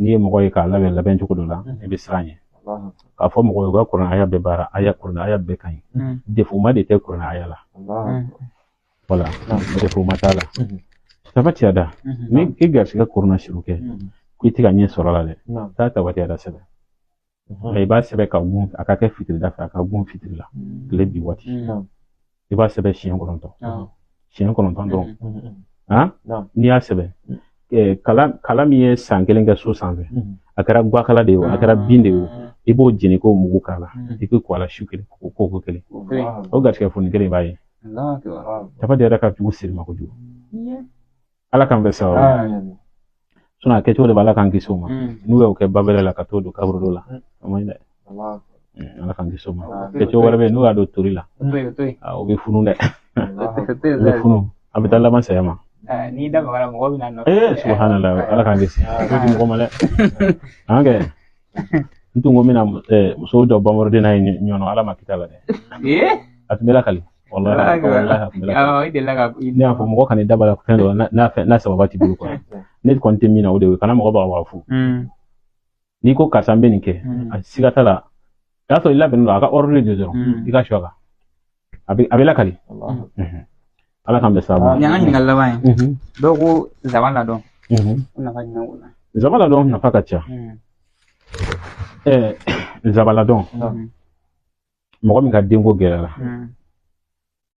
n'i ye mɔgɔ ye k'a labɛn labɛn cogo dɔ la i bɛ siran ɲɛ k'a fɔ mɔgɔ ye u ka kuranɛ haya bɛɛ baara haya kuranɛ haya bɛɛ ka ɲi defoma de tɛ kuranɛ haya la voilà defoma t'a la tabbat yada ni i garisigɛ korona suru kɛ ko i tɛ ka ɲɛ sɔrɔ a la dɛ taa tabbat yada sɛbɛn i b'a sɛbɛn ka gun a ka kɛ fitiri da fɛ a ka gun fitiri la tile bi waati i b'a sɛbɛn siɲɛ kɔnɔntɔn siɲɛ kɔnɔntɔn dɔrɔn n'i y'a sɛbɛn kala min ye san kelen kɛ so sanfɛ a kɛra guwakala de ye a kɛra bin de ye i b'o jeni k'o mugu k'a la i k'i ko a la su kelen k'o ko ko kelen o garisɛgɛ foni kelen i b'a ye tabbat yada ka jugu siri ma kojugu ala k'an bɛɛ sababu sinon a kɛcogo de b'ala k'an kisi o ma n'u y'o kɛ babɛlɛ la ka t'o don kaburu dɔ la o man ɲi dɛ ala k'an kisi o ma kɛcogo wɛrɛ bɛ yen n'u y'a don tori la o bɛ funu dɛ o bɛ funu a bɛ taa laban saya ma n'i da magara mɔgɔ bɛ na nɔfɛ ee subahanala ala k'an kisi o di mɔgɔ ma dɛ an kɛ n tun ko n bɛna muso dɔ bamɔrɔden n'a ye ɲɔnɔ ala ma kita la dɛ a tun bɛ lakali ne y'a fɔ mɔgɔ kana da la fɛn dɔ n'a sababa t'i bolo kɔnɔ ne kɔni tɛ min na o de ye kana mɔgɔ bagabaga fu hmm. n'i ko karisa n bɛ nin kɛ hmm. a siga t'a la n'a sɔrɔ i labɛnnen don a ka ordre de dɔrɔn hmm. i ka sɔ kan a bɛ lakali ala k'an bɛɛ sababu ɲa an ka ɲininkali laban ye mhm. dɔw ko zaban ladɔn mhm. nafa jumɛn b'o la zaban ladɔn nafa ka ca mhm. eh, zaban ladɔn mɔgɔ min ka denko gɛlɛyara hmm.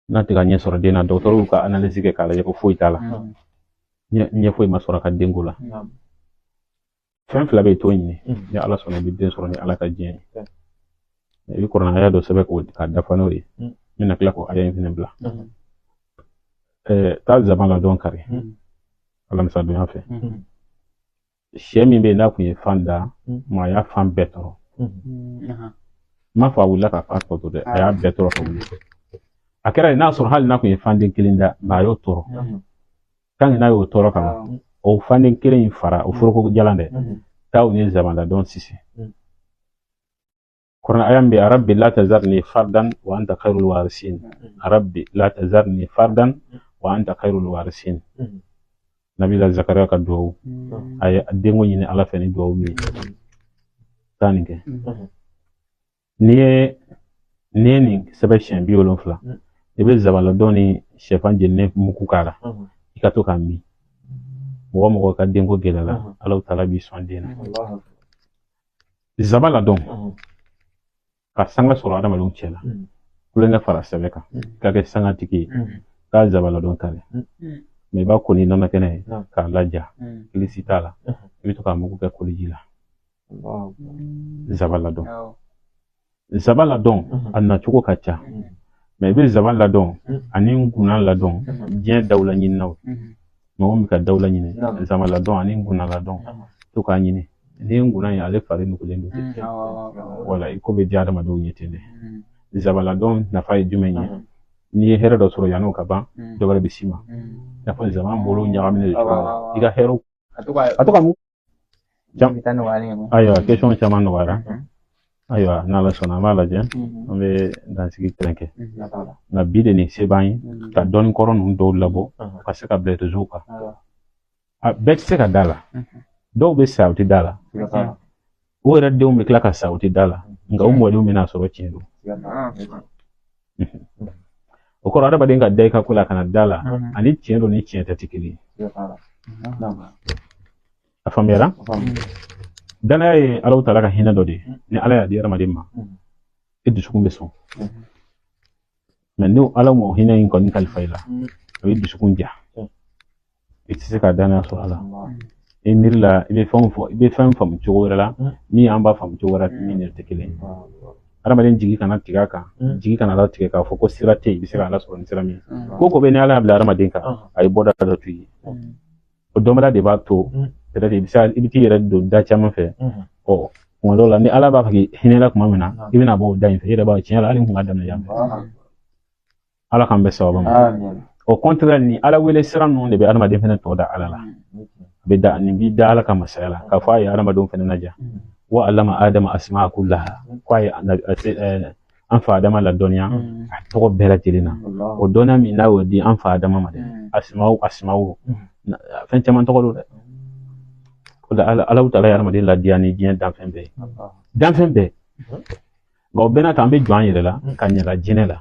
n'a tɛ ka ɲɛ sɔrɔ den na dɔgɔtɔrɔw ka analyse kɛ k'a lajɛ ko foyi t'a la hmm. ɲɛ foyi ma sɔrɔ a ka denko la hmm. fɛn fila bɛ t'o ɲini ni ala sɔnna i bɛ den sɔrɔ ni ala ka diɲɛ ye i bɛ kuranɛ aya dɔ sɛbɛn k'o k'a dafa n'o ye n bɛna tila k'o aya in fana bila taa zaban ladɔn kari alamisadonya fɛ sɛ min bɛ yen n'a kun ye fan da mm. ma a y'a fan bɛɛ tɔrɔ mm. mm, m'a fɔ a wulila ka fan tɔ to dɛ a y'a bɛɛ tɔrɔ ka wuli a kɛra yen n'a sɔrɔ hali n'a kun ye fanden kelen da nka a y'o tɔrɔ tant que n'a y'o tɔrɔ ka ban o fanden kelen in fara o foroko jalan dɛ taa o ni zaban ladɔn sisi Kur'an aya bɛ rabbi la tazarni fardan wa anta khairul warisin rabbi la tazarni fardan wa anta khairul warisin nabila zakariya ka duwawu a ye denko ɲini ala fɛ ni duwawu min taa nin kɛ n'i ye n'i ye nin sɛbɛn siɲɛ bi wolonfila i bɛ zaban ladɔn ni sɛfan jeninen mugu k'a la i ka to k'a min mɔgɔ o mɔgɔ ka denko gɛlɛyara ala taala b'i sɔn den na zaban ladɔn ka sanga sɔrɔ adamadenw cɛ la kulonkɛ fara sɛbɛ kan ka kɛ sanga tigi ye ka zaban ladɔn kari mais i b'a ko ni nɔnɔ kɛnɛ ye k'a laja kilisi t'a la i bɛ to k'a mugu kɛ koliji la zaban ladɔn Nsaban ladɔn a nacogo ka ca mais i bɛ nsaban ladɔn ani ngunan ladɔn diɲɛ dawula ɲininaw mɔgɔ bɛ ka dawula ɲini nsaban ladɔn ani ngunan ladɔn to k'a ɲini ni ngunan ye ale fari nugulen don wala i ko bɛ diya adamadenw ye ten dɛ nsaban ladɔn nafa ye jumɛn ye n'i ye hɛrɛ dɔ sɔrɔ yan'o ka ban dɔ wɛrɛ bɛ s'i ma i n'a fɔ nsaban bolo ɲagaminen de i ka hɛrɛw a to ka mun Jɔn ta nɔgɔyalen ye ayiwa question caman nɔgɔyara ayiwa n'ala sɔnna an b'a lajɛ an bɛ dansigi kelen kɛ nka bi de ni se b'an ye ka dɔnni kɔrɔ ninnu dɔw labɔ ka se ka bila réseau kan bɛɛ tɛ se ka da la dɔw bɛ sa u tɛ da la u yɛrɛ denw bɛ tila ka sa u tɛ da la nka u mɔdenw bɛn'a sɔrɔ tiɲɛ don o kɔrɔ adamaden ka da i ka ko la kana da la ani tiɲɛ don ni tiɲɛ tɛ tɛ kelen ye a faamuyara danaya ye ala taala ka hinɛ dɔ de ye ni ala y'a di adamaden ma i dusukun bɛ sɔn mais ni ala m'o hinɛ in kɔni kalifa i la a bɛ dusukun ja i tɛ se ka danaya sɔrɔ a la i miiri la i bɛ fɛnw fɔ i bɛ fɛn faamu cogo wɛrɛ la min an b'a faamu cogo wɛrɛ min yɛrɛ tɛ kelen ye adamaden jigi kana tigɛ a kan jigi kana ala tigɛ k'a fɔ ko sira tɛ yen i bɛ se ka ala sɔrɔ ni sira min ko ko bɛɛ ni ala y'a bila adamaden kan a ye bɔda dɔ to yen o dɔnbaliya de b'a to yɛrɛ de i bɛ se i bɛ t'i yɛrɛ don da caman fɛ ɔ kuma dɔw la ni ala b'a fɛ ka hinɛ i la tuma min na i bɛna bɔ o da in fɛ i yɛrɛ b'a ye tiɲɛ la hali n kun ka daminɛ yan ala k'an bɛn sababu ma au contraire ni ala wele sira ninnu de bɛ adamaden fɛnɛ to da ala la a bɛ da nin b'i da ala ka masaya la k'a fɔ a ye adamadenw fɛnɛ ladiya wa alama adama asimaa kulaha ko a ye an fa adama ladɔnniya mm. a tɔgɔ bɛɛ lajɛlen na o dɔnniya min n'a y'o di an fa adama ma dɛ mm. asimaw asimaw mm. fɛn caman tɔgɔ don dɛ o la ala taala y'adamaden ladiya ni diɲɛ danfɛn bɛɛ danfɛn bɛɛ nka o bɛɛ n'a ta an bɛ jɔn an yɛrɛ la k'an ɲɛ da jinɛ la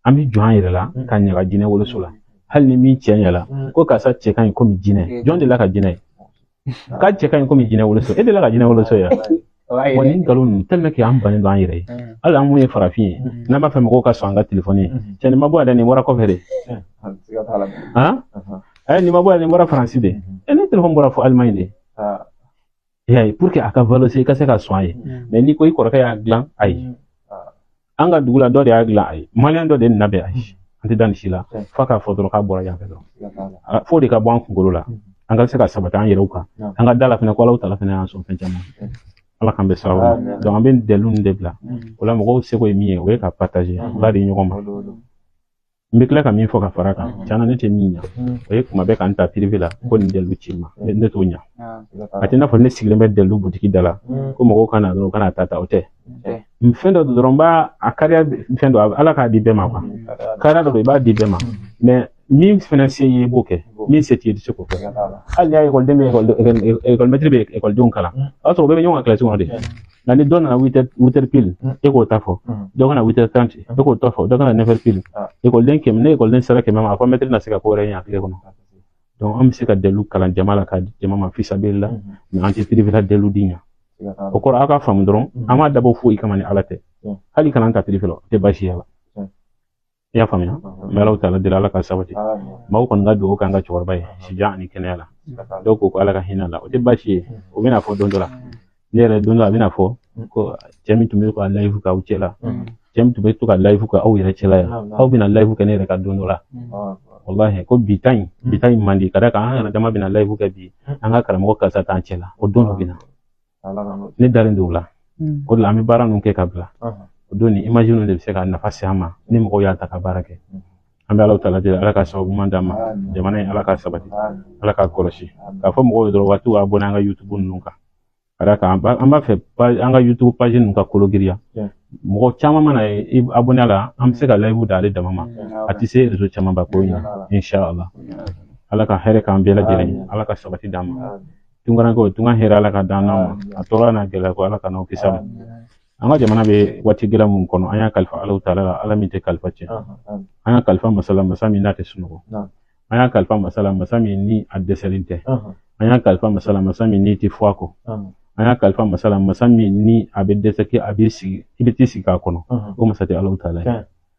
an bɛ jɔn an yɛrɛ la k'an ɲɛ da jinɛ woloso la hali ni min cɛɲala ko karisa cɛ ka ɲi komi jinɛ jɔn delila ka jinɛ ye k'a cɛ ka ɲi komi jinɛ woloso e delila ka jinɛ woloso ye wa nin nkalon ninnu tellement que an bannen don an yɛrɛ ye hali an mun ye farafin ye n'an b'a fɛ mɔgɔw ka sɔn an ka telefɔni ye cɛ nin ma bɔ yan dɛ nin bɔra kɔfɛ de ɛɛ nin ma bɔ yan dɛ nin bɔra faransi de e ne telefɔni bɔra fo alimaɲi de y'a ye a ka valoriser i ka se ka sɔn a ye mais n'i ko i kɔrɔkɛ y'a dilan ayi an ka dugu la dɔ de y'a dilan a ye maliyɛn dɔ de nana bɛ a ye an tɛ da nin si la f'a k'a fɔ dɔrɔn k'a bɔra yan fɛ dɔrɔn f'o de ka bɔ an kunkolo la an ka se ka sabati an yɛrɛw kan an ka da a la fɛnɛ ko ala taala fɛnɛ y'an sɔn fɛn caman ala k'an bɛ sababu donc an bɛ dalilu de bila o la mɔgɔw seko ye min ye o ye ka partager ba de ɲɔgɔn ma n bɛ tila ka min fɔ ka fara a kan mm-hmm. tiɲɛ na ne tɛ min ɲa mm-hmm. o ye ko maa bɛɛ ka n ta pirife la ko nin dalilu ci ma mm-hmm. ne t'o ɲa ah, a tɛ n'a fɔ ne sigilen bɛ dalilu butigi da la ko mɔgɔw ka na dɔrɔn u ka na ta ta o tɛ fɛn dɔ dɔrɔn b'a a kariya fɛn dɔ ala k'a di bɛɛ ma kuwa kariya dɔ i b'a di bɛɛ ma mɛ min fana se ye i b'o kɛ min se t'i ye i tɛ se k'o kɛ hali n'i y'a ekɔliden bɛ ekɔlimɛtiri bɛ ekɔlidenw kalan o y'a sɔrɔ o bɛɛ bɛ ɲɔgɔn ka kilasi kɔnɔ de nka ni dɔ nana witɛri pili e k'o ta fɔ dɔ ka na witɛri taranti e k'o ta fɔ dɔ ka na nɛfɛri pili ekɔliden kɛmɛ ni ekɔliden sera kɛmɛ ma a fɔ mɛtiri na se ka ko wɛrɛ ɲɛ a tile kɔnɔ donc an bɛ se ka dalilu kalan jama la k'a di jama ma fisabililahi mɛ an tɛ pirife la dalilu di ɲa o kɔrɔ aw k'a faamu dɔrɔn an m'a dabɔ foyi kama ni ala tɛ hali ka na an ta pirife la o tɛ baasi y'a la i y'a faamuya n bɛ ala taala deli ala k'a sabati maaw kɔni ka dugawu k'an ka cɛkɔrɔba ye sijan ani kɛnɛya la dɔw ko ko ala ka hinɛ a la o tɛ baasi ye o bɛna fɔ don dɔ la ne yɛrɛ don dɔ a bɛna fɔ ko cɛ min tun bɛ ka layifu k'aw cɛ la cɛ min tun bɛ to ka layifu kɛ aw yɛrɛ cɛla yan aw bɛna layifu kɛ ne yɛrɛ kan don dɔ la walahi ko bi tan in bi tan in man di ka d'a kan an yɛrɛ dama bɛna layifu kɛ bi an ka karamɔgɔ karisa t'an cɛ la o don dɔ bɛ na ne dalen don o la hmm. o de la an bɛ baara ninnu kɛ ka bila o don ni image ninnu de bɛ se ka nafa se an ma ni mɔgɔw y'a ta ka baara kɛ hmm. an bɛ ala taala deli ala ka sababu ɲuman d'an ma jamana in ala k'a sabati ala k'a kɔlɔsi k'a fɔ mɔgɔw ye dɔrɔn u ka t'i abonné an ka youtube ninnu kan ka d'a kan an b'a fɛ an ka youtube page ninnu ka kolo giriya mɔgɔ caman mana i abonné a la an bɛ se ka layifu da ale dama ma a tɛ se rezo camanba ko in na inshallah ala ka hɛrɛ k'an bɛɛ lajɛlen ala ka sabati d'an ma tunkarankɛw tunga hɛrɛ ala k'a d'an n'aw ma a tɔɔrɔ n'a gɛlɛya ko ala k'an n'aw kisi a ma an ka jamana bɛ waati gɛlɛn min kɔnɔ an y'a kalifa ala taala la ala min tɛ kalifa cɛn an y'a kalifa masa la masa min n'a tɛ sunɔgɔ an y'a kalifa masa la masa min ni a dɛsɛlen tɛ an y'a kalifa masa la masa min n'i tɛ fɔ a kɔ an y'a kalifa masa la masa min ni a bɛ dɛsɛ kɛ a bɛ sigi i bɛ t'i sigi k'a kɔnɔ o masa tɛ ala taala ye